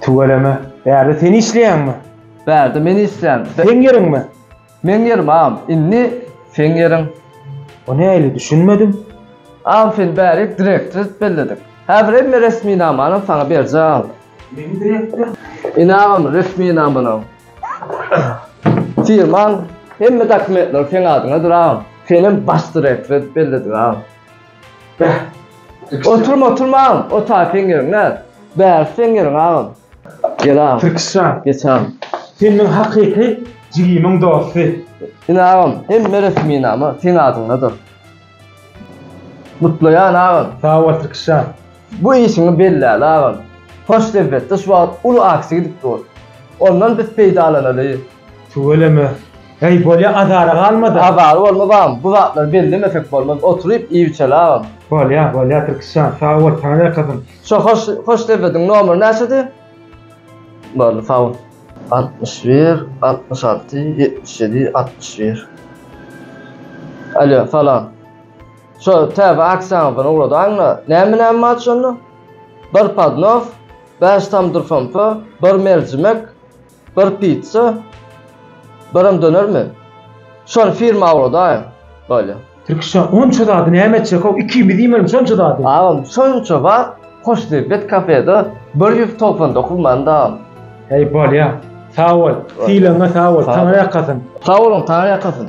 Tüweleme, bärde sen işleýäňmi? Bärde men işleýän. Seň ýeriňmi? Meň ýerim agam, indi seň ýeriň. O nähili, düşünmedim? Agam seni bärik direktor edip belledik. Häzir hemme resminamany saňa berjek agam. Meni direktor? Ine agam resminamalaň. Firmaň hemme dokumentleri seň adyňadyr agam. Senem baş direktor edip belledik agam. Beh. Oturma oturma agam. Otar seň ýeriň näz. Bäri seň ýeriň agam. Gel agam. Türkistan. Geç agam. Sen meň hakyky jigimiň dosty. Ine agam hemme resminama seň adyňdadyr. Gutlaýan agam. Sag bol Türkistan. Bu işiňi belläli agam. Hoş söhbetde şu wagt uly aksiýa gidip dur. Ondan biz peýdalanaly. Tüweleme. Heý bolýa azara galmadyň. Azara bolmaz agam bu zatlary bellemesek bolmaz oturyp iýip içeli agam. Bolýa bolýa Türkisjan sag bol saňa ne kazym. Şu hoş söhbediň nomeri näçedi? Boldy sag bol. Altmyş bir altmyş alty ýetmiş ýedi altmyş bir. Alýo salam. Şo täze aksiýaňyzdan ugradaňda, näme näme bar şonda? Bir podnos, bäş tamdyr somsa, bir merjimek, bir pitsa, birem dönermi? Şony firma ugradaýyň. Bolýa. Tirkişa onça zady näme etjek-ow, ikimiz iýmeli şonça zady. Agam, şonça wagt Hoşniýet kafede bir ýüz togsan dokuz manat agam. Heý, bolýa. Sag bol. Sylagyňa sag bol. Taňry ýakasyn. Sag boluň, Taňry ýakasyn.